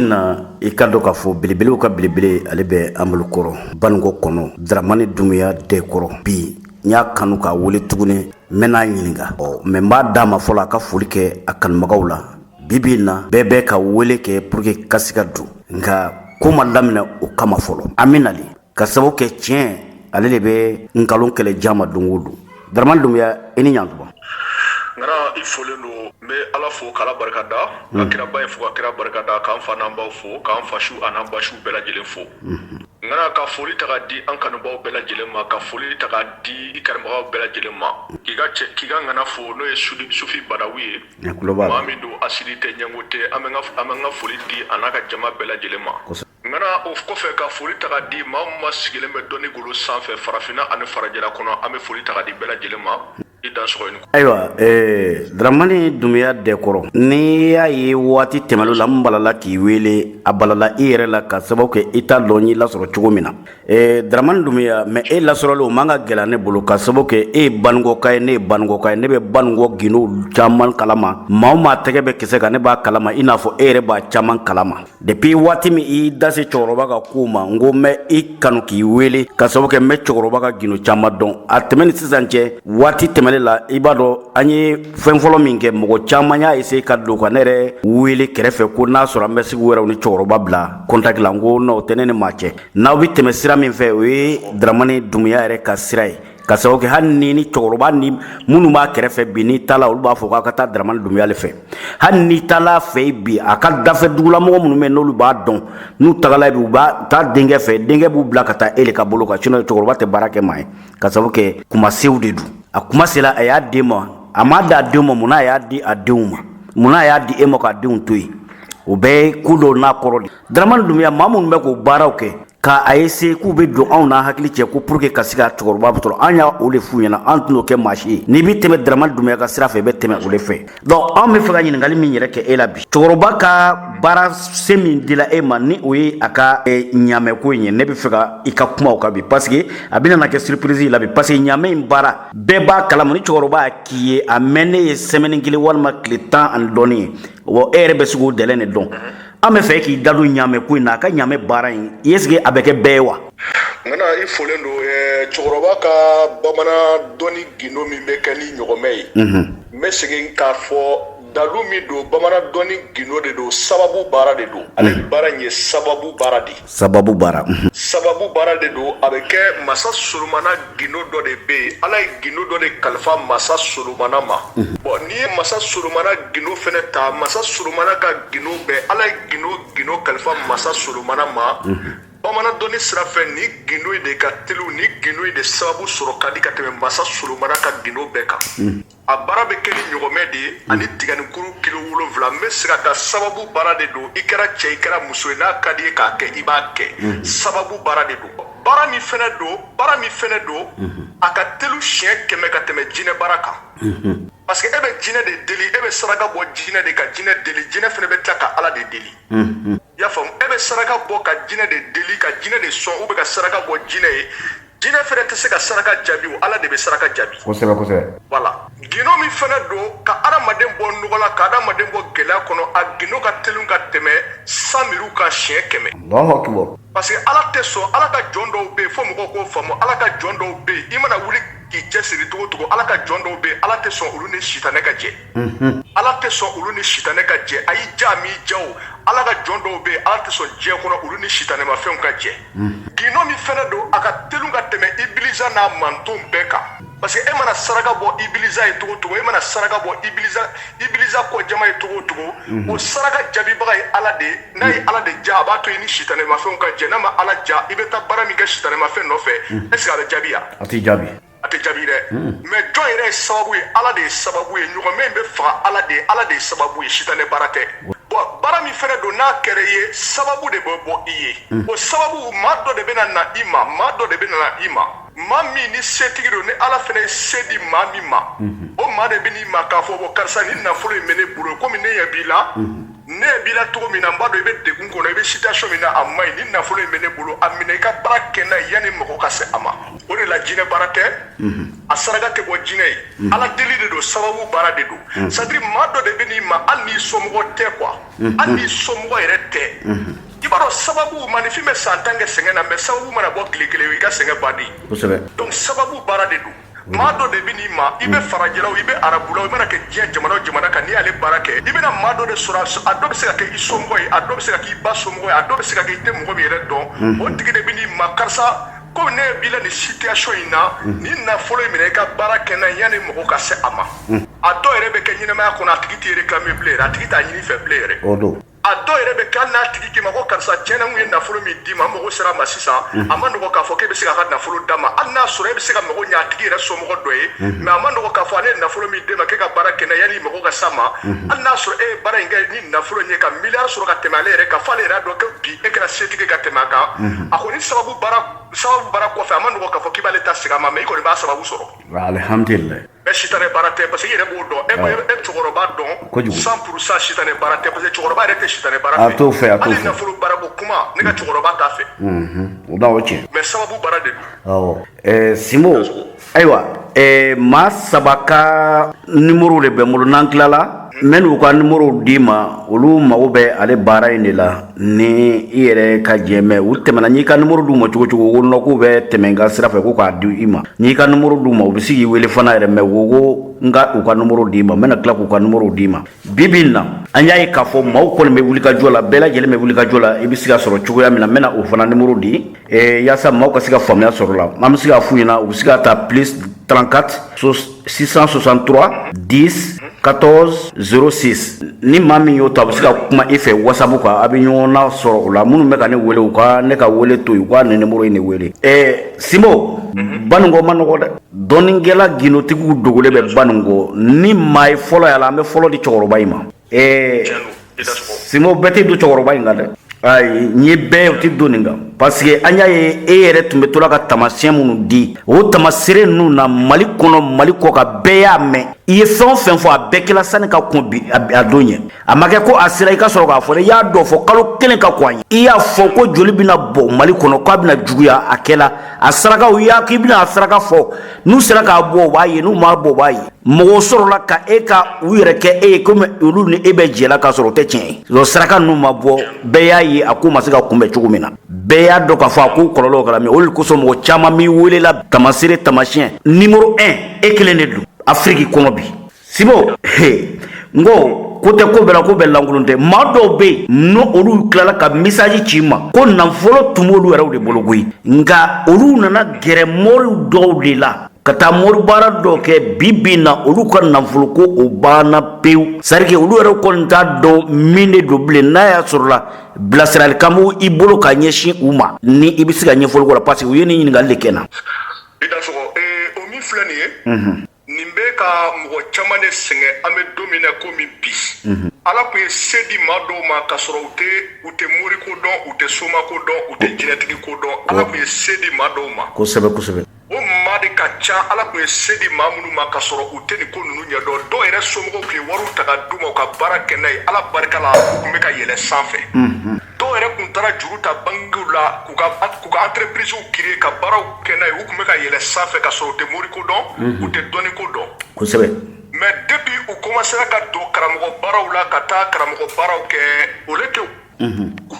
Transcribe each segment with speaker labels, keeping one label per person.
Speaker 1: na i ka dɔn k'a fɔ belebelew ka belebele ale bɛ an bolo kɔrɔ Banikɔ kɔnɔ Daramani Dunbiya Dɛkɔrɔ bi n y'a kanu k'a wele tuguni n bɛn'a ɲininka ɔ mais n b'a d'a ma fɔlɔ a ka foli kɛ a kanubagaw la bi bi in na bɛɛ bɛ ka wele kɛ pour que ka se ka don nka ko ma daminɛ o kama fɔlɔ an bɛ nali ka sababu kɛ tiɲɛ ale de bɛ nkalon kɛlɛ jama don o don Daramani Dunbiya i ni ɲantuma
Speaker 2: ŋana i folen don n bɛ ala fo k'ala barika da ka kiraba ye fo ka kira barika da k'an fa n'an baw fo k'an fasiw ani basiw bɛɛ lajɛlen fo ŋana ka foli taa di an kanubaw bɛɛ lajɛlen ma ka foli taa di karamɔgɔbaw bɛɛ lajɛlen ma k'i ka cɛ k'i ka ŋana fo n'o ye Sufi Badawi ye min don hasidi tɛ ɲɛngo tɛ an bɛ ka foli di an'a ka jama bɛɛ lajɛlen ma ŋana o kɔfɛ ka foli taga di maa o maa sigilen bɛ dɔnni golo sanfɛ farafinna ani farajɛla kɔnɔ an bɛ foli taga di bɛɛ lajɛlen ma i dansɔgɔ i ni kɔ ayiwa
Speaker 1: ɛɛ Daramani Dunbiya Dɛkɔrɔ n'i y'a ye waati tɛmɛnen la n balala k'i wele a balala i yɛrɛ la ka sababu kɛ i t'a dɔn n y'i lasɔrɔ cogo min na Ee Daramani Dunbiya mais e lasɔrɔli o man ka gɛlɛya ne bolo ka sabu kɛ e ye Banikɔka ye ne ye Banikɔka ye ne bɛ Banikɔ gindow caman kalama maa o maa tɛgɛ bɛ kisɛ kan ne b'a kalama i n'a fɔ e yɛrɛ b'a caman kalama depuis waati min i y'i da se cɛkɔrɔba ka kow ma n ko n bɛ i kanu k'i wele ka sabu kɛ n bɛ cɛkɔrɔba ka gindo caman dɔn a tɛmɛ ni sisan cɛ waati tɛmɛnen la i b'a dɔn an ye fɛn fɔlɔ min kɛ mɔgɔ caman y'a essayer ka don ka ne yɛrɛ wele kɛrɛfɛ ko n'a sɔrɔ an bɛ se k'u yɛrɛw ni cɛkɔrɔba bila contact la n ko non o tɛ ne ni maa cɛ n'aw bɛ tɛmɛ sira min fɛ o ye Dramani Dunbiya yɛrɛ ka sira ye ka sababu kɛ hali ni ni cɛkɔrɔba ni minnu b'a kɛrɛfɛ bi n'i taala olu b'a fɔ k'a ka taa Daramani Dunbiya de fɛ hali n'i taala fɛ bi a ka dafɛ dugulamɔgɔ minnu bɛ n'olu b'a dɔn n'u tagala bi u b'a taa denkɛ fɛ denkɛ b'u bila ka taa e de ka bolo kan sinon cɛkɔrɔba tɛ baara kɛ maa ye ka sababu kɛ kumasew de don a kuma sera a y'a d'e ma a m'a di a denw ma mun na a y'a di a denw ma mun na a y'a di e ma k'a denw to yen o bɛɛ ye ko dɔw n'a kɔrɔ de Dramani Dunbiya maa minnu bɛ k'o baaraw kɛ ka a essayer k'u bɛ don anw n'an hakili cɛ ko pour que ka se ka cɛkɔrɔba sɔrɔ an y'o de f'u ɲɛna an tɛn'o kɛ maa si ye n'i bɛ tɛmɛ Dramani Dunbiya ka sira fɛ i bɛ tɛmɛ o de fɛ donc anw bɛ fɛ ka ɲininkali min yɛrɛ kɛ e la bi cɛkɔrɔba ka baara se min dila e ma ni o ye a ka ɲaamɛ ko in ye ne bɛ fɛ ka i ka kuma o kan bi parce que a bɛna na kɛ surprise ye i la bi parce que ɲaamɛ in baara bɛɛ b'a kalama ni cɛkɔrɔba y'a k'i ye a mɛnnen ye semaine kelen walima tile tan ani dɔɔnin ye Wa e yɛrɛ bɛ se k'o dilan dɛ donc an bɛ fɛ k'i da don ɲaamɛ ko in na a ka ɲaamɛ baara in est-ce que a bɛ kɛ bɛɛ ye wa ŋana i
Speaker 2: folen don cɛkɔrɔba ka bamanan dɔnni gindo min bɛ kɛ ni ɲɔgɔmɛ ye n bɛ segin k'a fɔ dalu min don bamanan dɔnni gindo de don sababu baara de don ale baara in ye sababu baara de ye sababu baara sababu baara de don a bɛ kɛ masa solomana gindo dɔ de bɛ yen ala ye gindo dɔ de kalifa masa solomana ma bɔn n'i ye masa solomana gindo fɛnɛ ta masa solomana ka gindo bɛɛ ala ye gindo gindo kalifa masa solomana ma bamanan dɔnni sira fɛ ni gindo in de ka telu ni gindo in de sababu sɔrɔ ka di ka tɛmɛ masa solomana ka gindo bɛɛ kan a baara bɛ kɛ ni ɲɔgɔnmɛ de ye ani tiganikuru kilo wolonwula n bɛ se ka taa sababu baara de don i kɛra cɛ i kɛra muso ye n'a ka d'i ye k'a kɛ i b'a kɛ mhm. sababu baara de don baara min fɛnɛ don baara min fɛnɛ don mhm. a ka telu siɲɛ kɛmɛ ka tɛmɛ jinɛ baara kan mhm. parce que e bɛ jinɛ de deli e bɛ saraka bɔ jinɛ de ka jinɛ deli jinɛ fɛnɛ bɛ tila ka ala de deli i y'a faamu e bɛ saraka bɔ ka jinɛ de deli ka jinɛ de sɔn ou bien ka saraka bɔ jinɛ ye jinɛ fɛnɛ tɛ se ka saraka jaabi o ala de bɛ saraka jaabi kosɛbɛ kosɛbɛ voilà gindo min fɛnɛ don ka adamaden bɔ nɔgɔ la ka adamaden bɔ gɛlɛya kɔnɔ a gindo ka telin ka tɛmɛ san miriw kan siɲɛ kɛmɛ parce que ala tɛ sɔn ala ka jɔn dɔw bɛ yen fo mɔgɔw k'o faamu ala ka jɔn dɔw bɛ yen i mana wuli k'i cɛsiri cogo cogo ala ka jɔn dɔw bɛ yen ala tɛ sɔn olu ni sitanɛ ka jɛ ala tɛ sɔn olu ni sitanɛ ka jɛ a y'i ja m'i ja ala ka jɔn dɔw bɛ yen ala tɛ sɔn diɲɛ kɔnɔ olu ni sitanɛma fɛnw ka jɛ gindo min fɛnɛ don a ka telu ka tɛmɛ ibilisa n'a mantonw bɛɛ kan parce que e mana saraka bɔ ibilisa ye cogo cogo e mana saraka bɔ ibilisa kɔ jama ye cogo cogo o saraka jaabibaga ye ala de n'a ye ala de ja a b'a to i ni sitanɛma fɛnw ka jɛ n'a ma ala ja i bɛ taa baara min kɛ sitanɛma fɛn nɔfɛ est-ce que a bɛ jaabi wa a tɛ jaabi a tɛ jaabi dɛ mais jɔn yɛrɛ ye sababu ye ala de ye sababu ye ɲɔgɔnmɛ in bɛ faga ala de ye ala de ye sababu ye sitanɛ baara tɛ bɔn baara min fɛnɛ don n'a kɛra i ye sababu de bɛ bɔ i ye o sababu maa dɔ de bɛna na i ma maa dɔ de bɛna na i ma maa min ni setigi don ni ala fɛnɛ ye se di maa min ma o maa de bɛ n'i ma k'a fɔ bɔn karisa ni nafolo in bɛ ne bolo komi ne ɲɛ b'i la ne ɲɛ b'i la cogo min na n b'a dɔn i bɛ degun kɔnɔ i bɛ situation min na a man ɲi ni nafolo in bɛ ne bolo a minɛ i ka baara kɛ n'a ye yanni mɔgɔ ka se a ma o de la jinɛ baara tɛ a saraka tɛ bɔ jinɛ ye ala deli de don sababu baara de don c'est-à-dire maa dɔ de bɛ n'i ma hali n'i somɔgɔ tɛ quoi hali n'i somɔgɔ yɛrɛ tɛ i b'a dɔn sababu maaninfin bɛ san tan kɛ sɛgɛn na mais sababu mana bɔ tile kelen i ka sɛgɛn bannen donc sababu baara de don maa dɔ de bɛ n'i ma i bɛ farajɛlaw i bɛ arabulaw i mana kɛ diɲɛ jamana o jamana kan n'i y'ale baara kɛ i bɛna maa dɔ de sɔrɔ a dɔ bɛ se ka kɛ i somɔgɔ ye a dɔ bɛ se ka k'i ba somɔgɔ ye a dɔ bɛ se ka kɛ i tɛ mɔgɔ min yɛrɛ dɔn o tigi de bɛ n'i ma karisa ko ne bila nin situation in na ni nafolo in minɛ i ka baara kɛ n'a ye yanni mago ka se a ma a dɔw yɛrɛ bɛ kɛ ɲɛnamaya kɔnɔ a tigi tɛ réclamer bilen yɛrɛ a tigi t'a ɲini i fɛ bilen yɛrɛ o don a dɔw yɛrɛ bɛ kɛ hali n'a tigi k'i ma ko karisa tiɲɛ na n kun ye nafolo min d'i ma n mago sera a ma sisan a ma nɔgɔ k'a fɔ k'e bɛ se k'a ka nafolo d'a ma hali n'a sɔrɔ e bɛ se ka mago ɲɛ a tigi yɛrɛ somɔgɔ dɔ ye mais a ma nɔgɔ k'a fɔ ale ye nafolo min d'e ma k'e ka baara kɛ n'a ye yanni mago ka s'a ma hali n'a sɔrɔ e ye baara in kɛ ni nafolo in ye ka miliyari sɔrɔ ka tɛmɛ ale yɛrɛ kan f'ale yɛrɛ y'a dɔn ko bi e kɛra setigi ye ka tɛmɛ a kan a kɔni sababu sababu baara kɔfɛ a ma nɔgɔ k'a fɔ k'i b'ale ta segin a ma mais i kɔni b'a sababu sɔrɔ alihamdulilayi
Speaker 1: mais sitanɛ baara
Speaker 2: tɛ parce que i yɛrɛ b'o dɔn e e cɛkɔrɔba dɔn kojugu 100 pour 100 sitanɛ baara tɛ parce que cɛkɔrɔba yɛrɛ tɛ sitanɛ baara fɛ a t'o fɛ a t'o fɛ hali
Speaker 1: nafolo baara
Speaker 2: ko kuma ne ka cɛkɔrɔba t'a fɛ o da o cɛ
Speaker 1: mais sababu baara de
Speaker 2: don awɔ ɛɛ
Speaker 1: simo ayiwa eh, maa saba ka nimoro de bɛ n bolo n'an tilala n bɛn'u ka nimoro d'i ma olu mago bɛ ale baara in de la ni i yɛrɛ ka jɛ mais u tɛmɛna n'i ka nimoro d'u ma cogo o cogo ko nɔ k'u bɛ tɛmɛ n ka sira fɛ ko k'a di i ma n'i ka nimoro d'u ma u bɛ se k'i wele fana yɛrɛ mais u ko n ka u ka nimoro d'i ma n bɛna tila k'u ka nimoro d'i ma bi bi in na an y'a ye k'a fɔ maaw kɔni bɛ wulikajɔ la bɛɛ lajɛlen bɛ wulikajɔ la i bɛ se ka sɔrɔ cogoya min na n bɛna o fana nimoro di Et yaasa maaw ka se ka faamuya sɔrɔ la an bɛ se k'a f'u ɲɛna u bɛ se ka ta plus 34 663 10 14 06 ni maa min y'o ta a bɛ se ka kuma i fɛ wasabu kan a bɛ ɲɔgɔn nasɔrɔ o la minnu bɛ ka ne wele u ka ne ka wele to yen u ka nin nimoro in de wele ɛɛ simo baninko ma nɔgɔ dɛ dɔnnikɛla gindotigiw dogolen bɛ baninko ni maa ye fɔlɔ y'a la an bɛ fɔlɔ di cɛkɔrɔba in ma ee simo bɛɛ tɛ don cɛkɔrɔba in kan dɛ ayi n ye bɛɛ o tɛ don nin kan parce que an y'a ye e yɛrɛ tun bɛ to la ka tamasiyɛn minnu di o tamasere ninnu na mali kɔnɔ mali kɔkan bɛɛ y'a mɛn i ye fɛn o fɛn fɔ a bɛɛ kɛla sani ka kɔn bi a don ɲɛ a ma kɛ ko a sera i ka sɔrɔ k'a fɔ dɛ i y'a dɔ fɔ kalo kelen ka kɔn a ɲɛ i y'a fɔ ko joli bɛna bɔ mali kɔnɔ k'a bɛna juguya a kɛla a sarakaw i y'a k'i bɛna a saraka fɔ n'u sera k'a bɔ o b'a ye n'u m'a bɔ o b'a ye mɔgɔw sɔrɔla ka e ka u yɛrɛ kɛ e ye komi olu ni e bɛ jɛ la k'a sɔrɔ o tɛ tiɲɛ ye donc saraka ninnu ma bɔ bɛɛ y'a ye a ko ma se ka kunbɛn cogo min na bɛɛ y'a dɔn k'a fɔ a ko kɔlɔlɔw kɛra min o de kosɔn mɔgɔ caman b'i welela tamasere tamasiyɛn nimoro 1 e kelen de don afiriki kɔnɔ bi simo he n ko ko tɛ ko bɛɛ la ko bɛɛ lankolon tɛ maa dɔw bɛ yen n'o olu tilala ka misaji ci n ma ko nafolo tun b'olu yɛrɛw de bolo koyi nka olu nana gɛrɛ mɔriw dɔw de la ka taa moribaara dɔ kɛ bi bi in na olu ka nafolo ko o banna pewu c'est-à-dire que olu yɛrɛ kɔni t'a dɔn min de don bilen n'a y'a sɔrɔ la bilasiralikan bɛ i bolo ka ɲɛsin u ma ni i bɛ se ka ɲɛfɔli k'o la parce que u ye nin ɲininkali de kɛ n na. i dansɔgɔ
Speaker 2: ee o min filɛ nin ye. nin bɛ ka mɔgɔ caman de sɛgɛn an bɛ don min na komi bi ala tun ye se di maa dɔw ma ka sɔrɔ u tɛ u tɛ mori ko dɔn u tɛ soma ko dɔn u tɛ jinɛtigi ko dɔn ala tun ye se di maa dɔw ma kosɛbɛ kosɛbɛ
Speaker 1: o maa de
Speaker 2: ka ca ala tun ye se di maa minnu ma ka sɔrɔ u tɛ nin ko ninnu ɲɛdɔn dɔw yɛrɛ somɔgɔw tun ye wariw ta ka d'u ma u ka baara kɛ n'a ye ala barika la u tun bɛ ka yɛlɛ sanfɛ dɔw yɛrɛ tun taara juru ta bankiw la k'u ka k'u ka entreprisew créer ka baaraw kɛ n'a ye u tun bɛ ka yɛlɛ sanfɛ ka sɔrɔ u tɛ mori ko dɔn u tɛ dɔnni ko dɔn kosɛbɛ mais depuis u commencera ka don karamɔgɔ baaraw la ka taa karamɔgɔ baaraw kɛ o le tɛ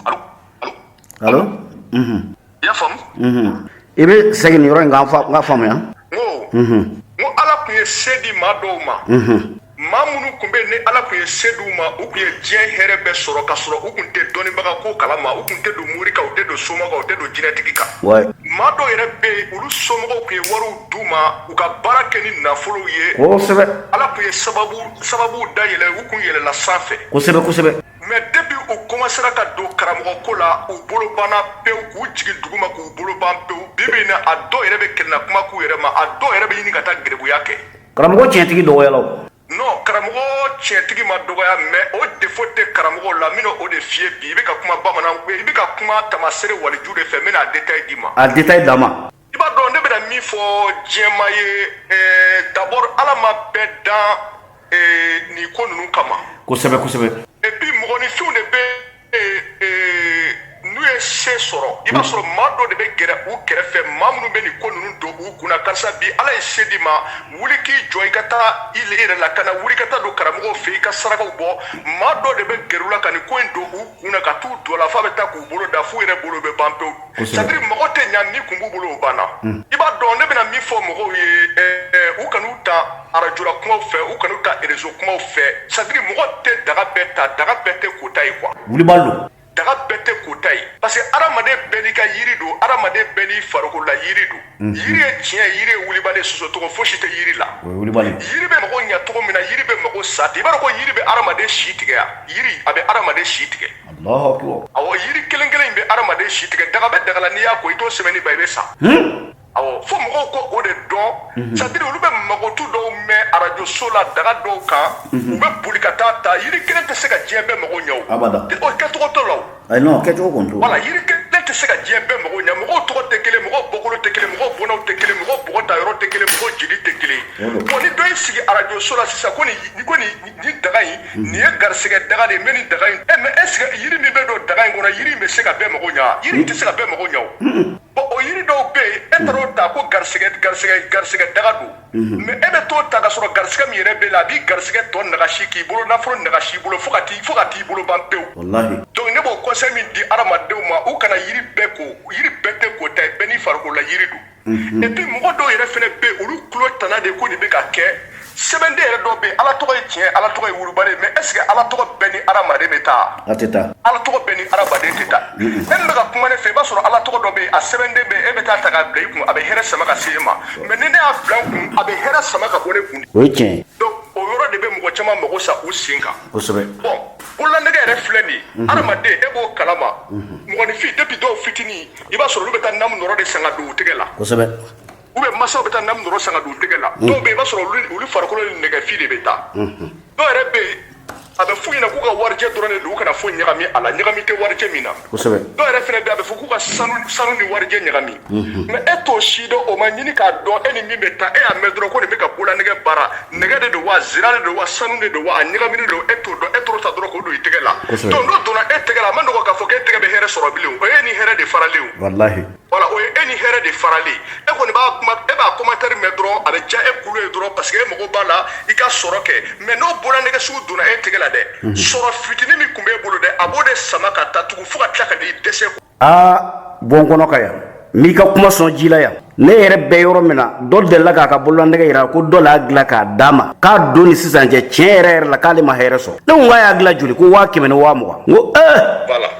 Speaker 2: allo allo
Speaker 1: allo I
Speaker 2: y'a faamu unhun i be
Speaker 1: segin nin yɔrɔ in kan n fa n k'a faamuya ŋoo
Speaker 2: unhun n ko Ala tun ye se di maa dɔw ma unhun maa minnu tun be ni Ala tun ye se di u ma u tun ye diɲɛ hɛrɛ bɛɛ sɔrɔ ka sɔrɔ u tun tɛ dɔnnibaga ko kalama u tun tɛ don mori kan u tɛ don soma kan u tɛ don jinɛtigi kan wayi maa dɔw yɛrɛ be yen olu somɔgɔw tun ye wariw d'u ma u ka baara kɛ ni nafolow ye kosɛbɛ Ala tun ye sababu sababuw dayɛlɛ u tun yɛlɛla sanfɛ kosɛbɛ kosɛbɛ mɛ depi u komasera ka don karamɔgɔ ko la u bolo banna pewu k'u jigin duguma k'u bolo ban pewu bi bi na a dɔw yɛrɛ bɛ kelenna kuma k'u yɛrɛ ma a dɔw yɛrɛ bɛ ɲini ka taa garibuya kɛ karamɔgɔ tiɲɛtigi dɔgɔyala o non karamɔgɔ tiɲɛtigi ma dɔgɔya mɛ o defo tɛ karamɔgɔ la min o de f'i ye bi i bɛ ka kuma bamanan i bɛ ka kuma taamaseere waliju de fɛ n bɛna a detail d'i ma a detail d'a ma i b'a dɔn ne bɛna min fɔ jama ye ɛɛ d'abord ala ma bɛɛ dan ɛɛ nin ko ninnu kama kosɛbɛ kosɛbɛ et puis mɔgɔninfinw de bɛ n'u ye se sɔrɔ i b'a sɔrɔ maa dɔ de bɛ gɛrɛ u kɛrɛfɛ maa minnu bɛ nin ko ninnu don u kunna karisa bi ala ye se d'i ma wuli k'i jɔ i ka taa i yɛrɛ lakana wuli ka taa don karamɔgɔw fɛ i ka sarakaw bɔ maa dɔ de bɛ gɛrɛ u la ka nin ko in don u kunna ka t'u don a la f'a bɛ taa k'u bolo da f'u yɛrɛ bolo bɛ ban pewu Kosɛbɛ. sadiri mago tɛ ɲa min kun b'u bolo o banna i b'a dɔn ne bɛna min fɔ mɔgɔw ye ɛ, ɛ, u kan'u ta arajo la kumaw fɛ u kan'u ta erezo kumaw fɛ sadiri mɔgɔ tɛ daga bɛɛ ta daga bɛɛ tɛ kota ye kuwa wulibali don daga
Speaker 1: bɛɛ tɛ
Speaker 2: kota ye parce que adamaden bɛɛ n'i ka yiri don adamaden bɛɛ n'i farikolola yiri don yiri ye tiɲɛ yiri ye wulibali sɔsɔcogo fosi tɛ yiri la yiri bɛ mago ɲɛ cogo min na yiri bɛ mago sa ten i b'a dɔn ko yiri bɛ hadamaden si tigɛ yiri a bɛ hadamaden si tigɛ a yiri kelen kelen in bɛ hadamaden si tigɛ daga bɛ daga la n'i y'a ko i to sɛbɛn ba i bɛ sa fo mɔgɔw ko o de don sadiri olu bɛ mankutu dɔw mɛn arajo so la daga dɔw kan u bɛ boli ka taa ta yiri kelen tɛ se ka diɲɛ bɛɛ mago ɲɛ kɛcogo t'o la ayi non kɛcogo kɔni t'o
Speaker 1: wala yiri kelen tɛ
Speaker 2: se ka diɲɛ bɛɛ mago ɲɛ mɔgɔw tɔgɔ tɛ kelen mɔgɔw bɔkolo tɛ kelen mɔgɔw bɔnnaw tɛ kelen mɔgɔw bɔgɔ ta yɔrɔ tɛ kelen mɔgɔw jeli tɛ kelen bon ni dɔ y'i sigi arajo so la sisan ko nin ko nin nin daga in nin ye garisigɛ daga de ye n bɛ nin daga in ɛ mɛ ɛseke yiri min bɛ don daga in kɔnɔ yiri in bɛ se ka bɛɛ mago ɲɛ yiri in tɛ se ka bɛɛ mago ɲɛ o bon o yiri dɔw bɛ yen e taara o ta ko garisigɛ garisigɛ garisigɛ daga don mais e bɛ t'o ta ka sɔrɔ garisɛgɛ min yɛrɛ b'i la a b'i garisɛgɛ tɔ nagasi k'i bolo nafolo nagasi i bolo fo ka fo ka t'i bolo ban pewu donc ne b'o conseil min di hadamadenw ma u kana yiri bɛɛ ko yiri bɛɛ tɛ kota ye bɛɛ n'i fari la yiri don et puis mɔgɔ dɔw yɛrɛ fana bɛ olu tulo tana de ko nin bɛ ka kɛ sɛbɛnden yɛrɛ dɔ bɛ ala tɔgɔ ye tiɲɛ ala tɔgɔ ye wulibali mais est-ce que ala tɔgɔ bɛɛ ni hadamaden bɛ taa ala tɔgɔ
Speaker 1: bɛɛ ni hadamaden
Speaker 2: tɛ taa e bɛ ka kuma ne fɛ i b'a sɔrɔ ala tɔgɔ dɔ bɛ yen a sɛbɛnden bɛ yen e bɛ t'a ta k'a bila i kun a bɛ hɛrɛ sama ka se e ma mais ni ne y'a bila n kun a bɛ hɛrɛ sama ka bɔ ne kun o ye
Speaker 1: tiɲɛ o yɔrɔ de
Speaker 2: bɛ mɔgɔ caman mago sa u sen kan kosɛbɛ bon
Speaker 1: bololanɛgɛ
Speaker 2: yɛrɛ filɛ nin mhm. adamaden e b'o kalama mhm. mɔgɔninfin depuis dɔw fitinin i b'a sɔrɔ olu bɛ taa namu nɔrɔ de san k'a don u tɛgɛ la kosɛbɛ
Speaker 1: u bɛ masaw
Speaker 2: bɛ taa namu nɔrɔ san k'a don u tɛgɛ la mhm. dɔw bɛ yen i b'a sɔrɔ olu farikolo ni nɛgɛfin de bɛ taa dɔw yɛrɛ bɛ yen a bɛ f'u ɲɛna k'u ka warijɛ dɔrɔn de don u kana foyi ɲagami a la ɲagami tɛ warijɛ min na kosɛbɛ dɔw yɛrɛ
Speaker 1: fana bɛ a bɛ
Speaker 2: fɔ k'u ka sanu sanu ni warijɛ ɲagami mais e t'o si dɔn o ma ɲini k'a dɔn e ni min bɛ taa e y'a mɛn dɔrɔn ko nin bɛ ka bololanɛgɛ baara nɛgɛ de don wa zira de don wa sanu de don wa a ɲagaminen don e t'o dɔn e t'o ta dɔrɔn k'o don i tɛgɛ la Kosɛbɛ. donc n'o donna e tɛgɛ la a man nɔgɔ k'a fɔ k'e tɛgɛ bɛ hɛrɛ sɔrɔ bilen o y'e ni hɛrɛ de faralen o walahi voilà o
Speaker 1: ye e
Speaker 2: ni hɛrɛ de faralen e kɔni b'a kuma e b'a commentaire mɛn dɔrɔn a bɛ diya e kulo ye dɔrɔn parce que e mago b'a la i ka sɔrɔ kɛ mais n'o bololanɛgɛ sugu donna e tɛgɛ la dɛ mhm. sɔrɔ fitinin min tun b'e bolo dɛ a b'o de sama ka taa tugun fo ka tila ka n'i dɛsɛ
Speaker 1: aa bon kɔnɔ ka yan n b'i ka kuma sɔn ji la yan ne yɛrɛ bɛ yɔrɔ min na dɔ delila k'a ka bololanɛgɛ yira ko dɔ l'a dilan k'a d'a ma k'a don ni sisan cɛ tiɲɛ yɛrɛ yɛrɛ la k'ale ma hɛrɛ sɔrɔ ne ko k'a y'a dilan joli ko waa kɛmɛ ni waa mugan n ko ee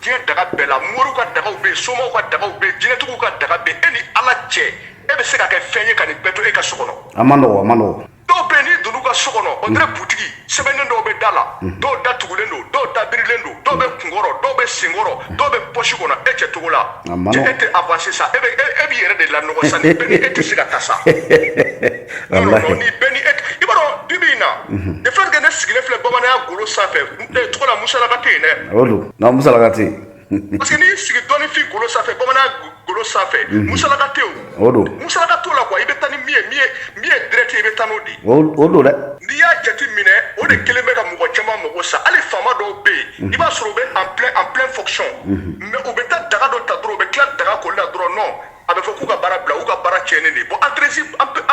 Speaker 2: diɲɛ daga bɛɛ la moriw ka dagaw bɛ yen somaw ka dagaw bɛ yen jinɛtigiw ka daga bɛ yen e ni ala cɛ e bɛ se ka kɛ fɛn ye ka nin bɛɛ to e ka so kɔnɔ. a man nɔgɔ a man nɔgɔ.
Speaker 1: dɔw bɛ yen n'i donn'u
Speaker 2: ka so kɔnɔ o tɛ butigi sɛbɛnden dɔw bɛ da la mm. dɔw da tugulen don dɔw da birilen don dɔw bɛ kunkɔrɔ dɔw bɛ senkɔrɔ mm. dɔw bɛ pɔsi kɔnɔ e cɛ cogo la cɛ e tɛ avancer sa e bɛ e, e b'i yɛrɛ de lanɔgɔ sa ni bɛɛ ni e tɛ se ka taa sa ni bɛɛ ni e i b'a dɔn bi bi in na mm-hmm. de fait que ne sigilen filɛ bamananya golo sanfɛ ee tɔgɔ la musalaka tɛ yen dɛ o don nka musalaka
Speaker 1: tɛ yen parce que n'i y'i
Speaker 2: sigi dɔnnifin golo sanfɛ bamanan golo sanfɛ musalaka tɛ yen o don musalaka t'o la
Speaker 1: quoi i bɛ
Speaker 2: taa ni min ye min ye min ye direct ye i bɛ taa n'o de ye o o don dɛ
Speaker 1: n'i y'a jate
Speaker 2: minɛ o de kelen bɛ ka mɔgɔ caman mago sa hali faama dɔw bɛ yen i b'a sɔrɔ u bɛ en plein en plein fonction mais u bɛ taa daga dɔ ta dɔrɔn u bɛ tila daga koli la dɔrɔn non a bɛ fɔ k'u ka baara bila u ka baara tiɲɛnen de bon entreprise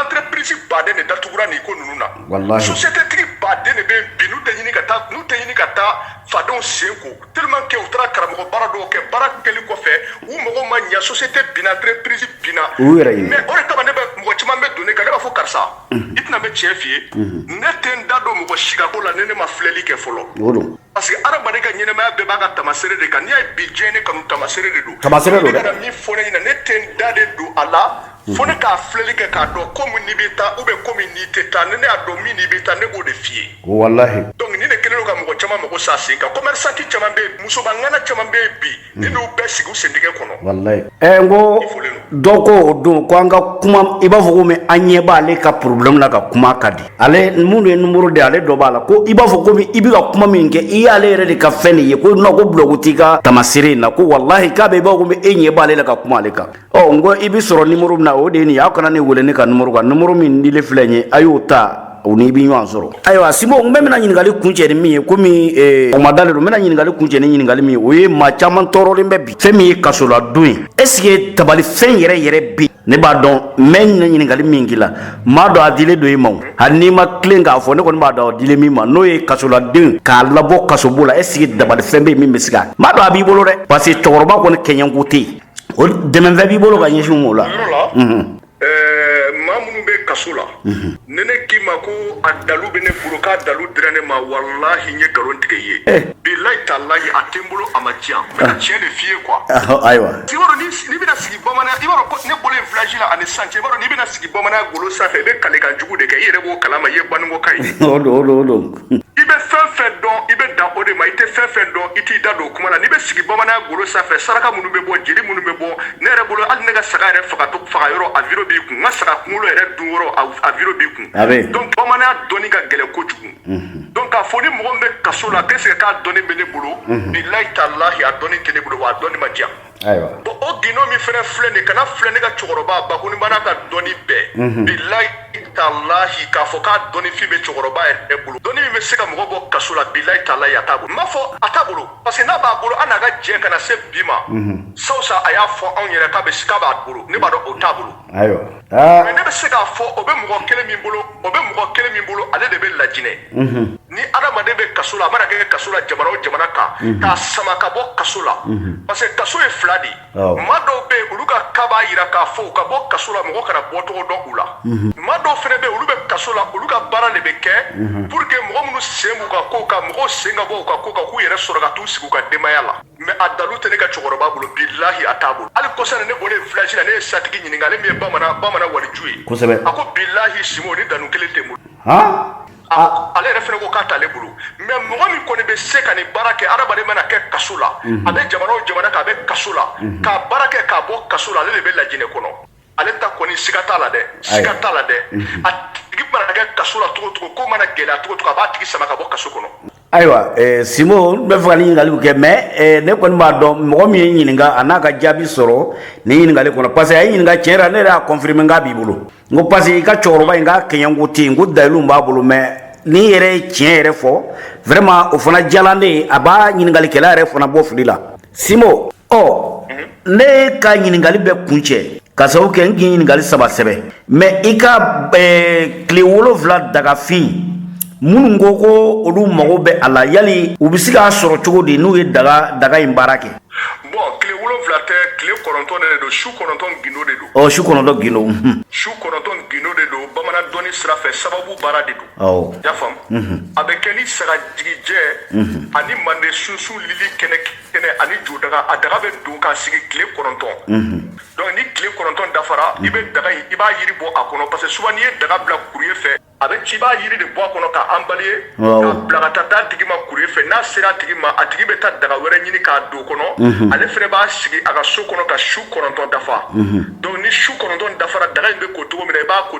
Speaker 2: entreprise baden de datugura nin ko ninnu na walahi société tigi
Speaker 1: baden
Speaker 2: de bɛ yen bi n'u tɛ ɲini ka taa n'u tɛ ɲini ka taa fadenw sen ko tellement que u taara karamɔgɔ baara dɔw kɛ baara kɛli kɔfɛ u mago ma ɲɛ société binna entreprise binna u yɛrɛ ye mais o de kama ne bɛ mɔgɔ caman bɛ don ne kan ne b'a fɔ karisa i tɛ na n bɛ tiɲɛ f'i ye ne tɛ n da don mɔgɔ si ka ko la ni ne ma filɛli kɛ fɔlɔ o don parce que adamaden ka ɲɛnɛmaya bɛɛ b'a ka tamasere de kan n'i y'a ye bi diɲɛ ne kanu tamasere de don tamasere don dɛ kana min fɔ ne ɲɛna ne tɛ n da de don a la fo ne k'a filɛli kɛ k'a dɔn ko min n'i bɛ taa ou bien ko min n'i tɛ taa ni ne y'a dɔn min n'i bɛ taa ne b'o de f'i ye walahi donc ni ne kɛlen don ka mɔgɔ caman mago sa sen kan commerçant caman bɛ yen musoba ŋana caman bɛ yen bi Hmm. Ne b'u bɛɛ sigi u sentɛgɛ kɔnɔ.
Speaker 1: Walayi. Ɛ n ko dɔ ko o don ko an ka kuma i b'a fɔ komi an ɲɛ b'ale ka problème la ka kuma ka di. Ale minnu ye nimoro di ale dɔ b'a la ko i b'a fɔ komi i bɛ ka kuma min kɛ i y'ale yɛrɛ de ka fɛn de ye ko non ko blɔgu t'i ka tamasere in na ko walahi k'a bɛ i b'a fɔ komi e ɲɛ b'ale la ka kuma ale kan. ɔ n ko i bɛ sɔrɔ nimoro min na o de ye nin ye aw kana ne wele ne ka nimoro kan nimoro min dilen filɛ nin ye a y'o ta o n'i bɛ ɲɔgɔn sɔrɔ ayiwa simo n bɛ bɛna ɲininkali kuncɛ ni min ye komi o ma dalen don n bɛna ɲininkali kuncɛ ni ɲininkali min ye o ye maa caman tɔɔrɔlen bɛ bi fɛn min ye kasoladon ye est-ce que dabalifɛn yɛrɛ yɛrɛ bɛ yen ne b'a dɔn n bɛ ɲinɛ ɲininkali min k'i la n b'a dɔn a dilen don i ma o hali n'i ma tilen k'a fɔ ne kɔni b'a dɔn a dilen min ma n'o ye kasoladen k'a labɔ kasobon la est-ce que dabalifɛn bɛ yen min bɛ se ka n b'a dɔn a b'i bolo dɛ parce que cɛkɔrɔba kɔni kɛɲɛko tɛ yen O dɛmɛfɛn b'i bolo ka ɲɛsin o la
Speaker 2: maa minnu bɛ kaso la ne ne k'i ma ko a dalu bɛ ne bolo k'a dalu dira ne ma walahi n ye nkalon tigɛ i ye bilahi talahi a tɛ n bolo a ma diya n bɛ tiɲɛ de f'i ye quoi ayiwa i b'a dɔn n'i bɛna sigi bamananya i b'a dɔn ne bɔlen village la ani san cɛ i b'a dɔn n'i bɛna sigi bamananya golo sanfɛ i bɛ kalikan jugu de kɛ i yɛrɛ b'o kala ma i ye baninkoka ye
Speaker 1: i bɛ
Speaker 2: fɛn fɛn dɔn i bɛ dan o de ma i tɛ fɛn fɛn dɔn i t'i da don o kuma na n'i bɛ sigi bamananya golo sanfɛ saraka minnu bɛ bɔ jeli minnu bɛ bɔ ne yɛrɛ bolo hali ne ka saga yɛrɛ faga yɔrɔ a vidéo b'i kun n ka saga kunkolo yɛrɛ dun yɔrɔ a vidéo b'i kun donc bamananya dɔnni ka gɛlɛn kojugu donc k'a fɔ ni mɔgɔ min bɛ kaso la qu'est-ce que k'a dɔnni bɛ ne bolo bilahi talahi a dɔnni tɛ ne bolo wa a dɔnni ma diya Ayiwa bon o gundo min fɛnɛ filɛ nin kana filɛ ne ka cɛkɔrɔba bakonibana ka dɔnni bɛɛ bilahi talahi k'a fɔ k'a dɔnni fin bɛ cɛkɔrɔba yɛrɛ bolo dɔnni min bɛ se ka mɔgɔ bɔ kaso la bilahi talahi a t'a bolo n b'a fɔ a t'a bolo parce que n'a b'a bolo an n'a ka jɛ ka na se bi ma sabu sa a y'a fɔ anw yɛrɛ k'a bɛ b'a bolo ne b'a dɔn o t'a bolo ayiwa aa mais ne bɛ se k'a fɔ o bɛ mɔgɔ kelen min bolo o bɛ mɔgɔ kelen min bolo ale de bɛ lajinɛ ni adamaden bɛ kaso la a mana kɛ kaso la jamana o jamana kan k'a sama ka bɔ kaso la parce que kaso ye fila de ye Awɔ. maa dɔw bɛ yen olu ka cas b'a yira k'a fɔ u ka bɔ kaso la mɔgɔ kana bɔcogo dɔn u la maa dɔw fɛnɛ bɛ yen olu bɛ kaso la olu ka baara de bɛ kɛ pour que mɔgɔ minnu sen b'u ka ko kan mɔgɔw sen ka bɔ u ka ko kan k'u yɛrɛ sɔrɔ ka t'u sigi u ka denbaya la mais a dalu tɛ ne ka cɛkɔrɔba bolo bilahi a t'a bolo hali kɔsa in na ne bɔlen village la ne ye satigi ɲininka ale min ye bamanan bamanan waliju ye kosɛbɛ a ko bilahi simo nin dalu kelen tɛ n bolo ale yɛrɛ fɛnɛ ko k'a t'ale bolo mais mɔgɔ min kɔni bɛ se ka nin baara kɛ adamaden mana kɛ kaso la a bɛ jamana o jamana k'a bɛ kaso la k'a baara kɛ k'a bɔ kaso la ale de bɛ lajinɛ kɔnɔ ale ta kɔni siga t'a la dɛ siga t'a la dɛ mhm. a tigi mana kɛ kaso la cogo cogo ko mana gɛlɛya cogo cogo a b'a tigi sama ka bɔ kaso kɔnɔ ayiwa eh,
Speaker 1: simo n bɛ fɛ ka nin ɲininkaliw kɛ mais eh, ne kɔni b'a dɔn mɔgɔ min y'i ɲininka a n'a ka jaabi sɔrɔ nin ɲininkali kɔnɔ parce que a y'i ɲininka tiɲɛ yɛrɛ ne yɛrɛ y'a confirmer k'a b'i bolo n ko parce que i ka cɛkɔrɔba in k'a kɛɲɛko tɛ yen ko dalilu b'a bolo mais n'i yɛrɛ ye tiɲɛ yɛrɛ fɔ vraiment o fana diyala ne ye a b'a ɲininkalikɛla yɛrɛ fana bɔ fili la simo ɔ ne ka ɲininkali bɛ kuncɛ k'a sababu kɛ n k'i ɲininkali saba sɛbɛn mais i ka tile wolonfila dagafin minnu ko ko olu mago bɛ a la yali u bɛ se k'a sɔrɔ cogo di n'u ye daga daga in baara kɛ bon
Speaker 2: tile wolonfila tɛ tile kɔnɔntɔn de don su kɔnɔntɔn gindo de don ɔ su kɔnɔntɔn gindo
Speaker 1: su kɔnɔntɔn
Speaker 2: gindo de don bamanan dɔnni sira fɛ sababu baara de don y'a faamu mhm. a bɛ kɛ ni sagajigijɛ mhm. ani mande sunsun lili kɛnɛ kɛnɛ ani jodaga a daga bɛ don k'a sigi tile kɔnɔntɔn mhm. donc ni tile kɔnɔntɔn dafara i bɛ daga in i b'a yiri bɔ a kɔnɔ parce que souvent n'i ye daga bila courrier fɛ a bɛ ci i b'a yiri de bɔ a kɔnɔ k'a emballer k'a bila ka taa d'a tigi ma courrier fɛ n'a sera a tigi ma a tigi bɛ taa daga wɛrɛ ɲini k'a don kɔnɔ mhm. ale fɛnɛ b'a sigi a ka so kɔnɔ ka su kɔnɔntɔn dafa mhm. donc ni su kɔnɔntɔn dafara daga in bɛ ko cogo min na i b'a ko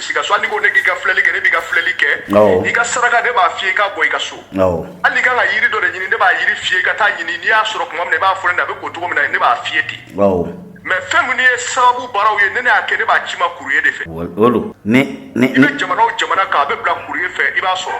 Speaker 2: s'i ka so hali n'i ko ne k'i ka filɛli kɛ ne b'i ka filɛli kɛ i ka saraka ne b'a f'i ye i k'a bɔ i ka so hali n'i kan ka yiri dɔ de ɲini ne b'a yiri f'i ye i ka taa ɲini n'i y'a sɔrɔ tuma min na i b'a fɔ ne na a bɛ ko cogo min na ne b'a f'i ye ten mais fɛn minnu ye sababu baaraw ye ni ne y'a kɛ ne b'a ci i ma courrier de fɛ i bɛ jamana o jamana kan a bɛ bila courrier fɛ i b'a sɔrɔ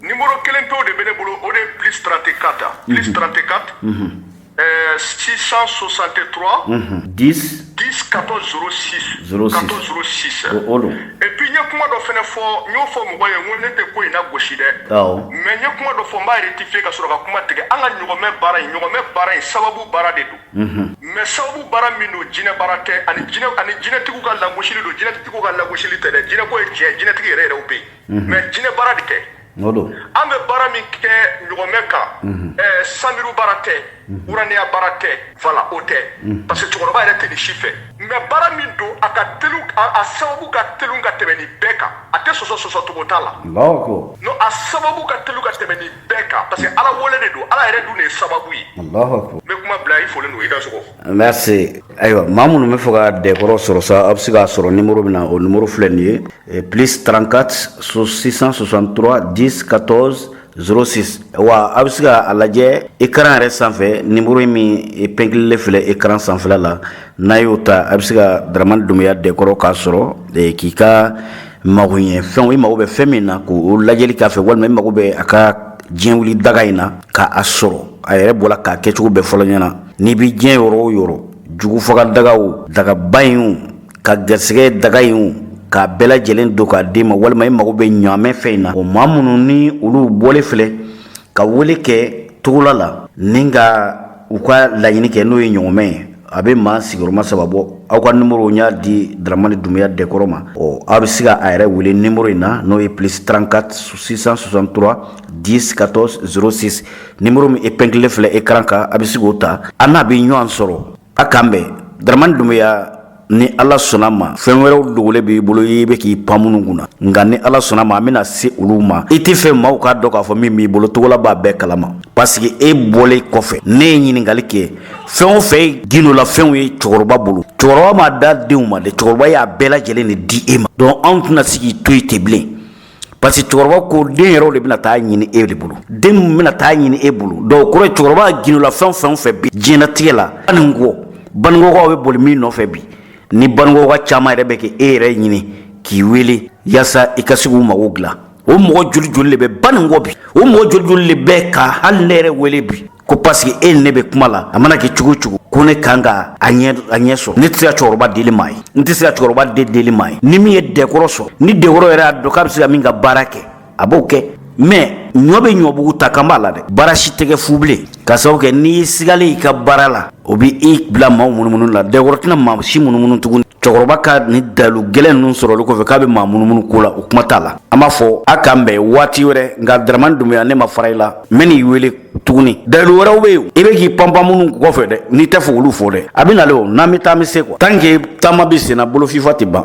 Speaker 2: Numéro kelen pew de bɛ ne bolo o de ye plus 34 plus 34 euh, 663 10 10 14 06 06. 14 06 o o don et puis n ye kuma dɔ fɛnɛ fɔ n y'o fɔ mɔgɔ ye n ko ne tɛ ko in nagosi dɛ awɔ mais n ye kuma dɔ fɔ n b'a rectifier ka sɔrɔ ka kuma tigɛ an ka ɲɔgɔnmɛ baara in ɲɔgɔnmɛ baara in sababu baara de don mais sababu baara min don jinɛ baara tɛ ani jinɛ ani jinɛtigiw ka lagosili don jinɛtigiw ka lagosili tɛ dɛ jinɛko ye tiɲɛ ye, jinɛtigi yɛrɛ yɛrɛw bɛ yen mais jinɛ baara de tɛ an bɛ baara min kɛ ɲɔgɔnmɛ kan sanuru baara tɛ wuraniya baara tɛ voilà o tɛ parce que cɛkɔrɔba yɛrɛ tɛ nin si fɛ mais baara min don a ka a sababu ka teli ka tɛmɛ nin bɛɛ kan a tɛ sɔsɔ sɔsɔ cogo t'a la a sababu ka teli ka tɛmɛ nin bɛɛ kan parce que ala wele de don ala yɛrɛ dun de ye sababu ye n bɛ kuma bila i folen don i ka sogo merci
Speaker 1: ayiwa maa minnu bɛ fɛ ka dɛkɔrɔ sɔrɔ sa aw bɛ se k'a sɔrɔ nimoro min na o nimoro filɛ nin ye eh, plus 34 663 10 14 06 wa a bɛ se k'a lajɛ écran yɛrɛ sanfɛ nimoro in min eh, pɛnkililen filɛ écran sanfɛla la n'a y'o ta a bɛ se ka daramani dunbuya dɛkɔrɔ k'a sɔrɔ eh, k'i ka magoɲɛfɛnw i mago bɛ fɛn min na k'o lajɛli k'a fɛ walima i mago bɛ a ka diɲɛ wuli daga in na k'a sɔrɔ a yɛrɛ bɔra k'a kɛcogo bɛɛ fɔ aw ɲɛna N'i bɛ diɲɛ yɔrɔ o yɔrɔ jugufaga dagaw dagaba in ka garisɛgɛ daga in k'a bɛɛ lajɛlen don k'a d'i ma walima i mago bɛ ɲaamɛ fɛn in na o maa minnu ni olu bɔlen filɛ ka wele kɛ togola la ni ka u ka laɲini kɛ n'o ye ɲɔgɔmɛ ye a bɛ maa sigiyɔrɔma saba bɔ aw ka numéro u y'a di daramani dunbuya dɛkɔrɔ ma ɔ aw bɛ se ka a yɛrɛ wele numéro in na n'o ye plus trente-quatre six cent soixante-trois dix quatorze zéro six numéro min épinglé filɛ écran kan a bɛ se k'o ta a n'a bɛ ɲɔgɔn sɔrɔ a k'an bɛn daramani dunbuya ni ala sɔnna ma fɛn wɛrɛw dogolen b'i bolo i bɛ k'i pan minnu kunna nka ni ala sɔnna ma an bɛna se olu ma i tɛ fɛ maaw k'a dɔn k'a fɔ min b'i bolo togola b'a bɛɛ kalama parce que e bɔlen kɔfɛ ne ye ɲininkali kɛ fɛn o fɛn ye gindola fɛnw ye cɛkɔrɔba bolo cɛkɔrɔba m'a d'a denw ma dɛ cɛkɔrɔba y'a bɛɛ lajɛlen de di e ma donc anw tɛna se k'i to yen ten bilen Parce que cɛkɔrɔba ko den yɛrɛw de bɛna taa ɲini e de bolo den min bɛna taa ɲini e bolo donc kɔrɔ cɛkɔrɔba gindola fɛn fɛn fɛ bi diɲɛlatigɛ la baninkɔ baninkɔkaw bɛ boli min nɔfɛ bi ni baninkɔka caman yɛrɛ bɛ ka e yɛrɛ ɲini k'i wele yaasa i ka se k'u mago dilan o mɔgɔ joli joli de bɛ baninkɔ bi o mɔgɔ joli joli de bɛ ka hali ne yɛrɛ wele bi ko paseke e ni ne bɛ kuma la a mana kɛ cogo cogo ko ne kan ka a ɲɛ sɔrɔ ne tɛ se ka cɛkɔrɔba deli maa ye n tɛ se ka cɛkɔrɔba de deli maa ye ni min ye dɛkɔrɔ sɔrɔ ni dɛkɔrɔ yɛrɛ y'a dɔn k'a bɛ se ka min ka baara kɛ a b'o kɛ mɛ ɲɔ bɛ ɲɔbugu ta kan b'a la dɛ baara si tɛ kɛ fu bilen ka sababu kɛ n'i sigalen i ka baara la o bɛ i bila maaw munumunu la dɛkɔrɔ tɛna maa si munumunu tuguni cɛkɔrɔba ka nin dalu gɛlɛn ninnu sɔrɔli kɔfɛ k'a bɛ maa munumunu ko la o kuma t'a la an b'a fɔ a k'an bɛn waati wɛrɛ nka daramani dunbuya ne ma fara i la n bɛn'i wele tuguni dalu wɛrɛw be yen i be k'i panpan minnu kɔfɛ dɛ n'i tɛ fɛ k'olu fɔ dɛ a be nale o n'an be taa an be se quoi tant que taama be sen na bolo fifa tɛ ban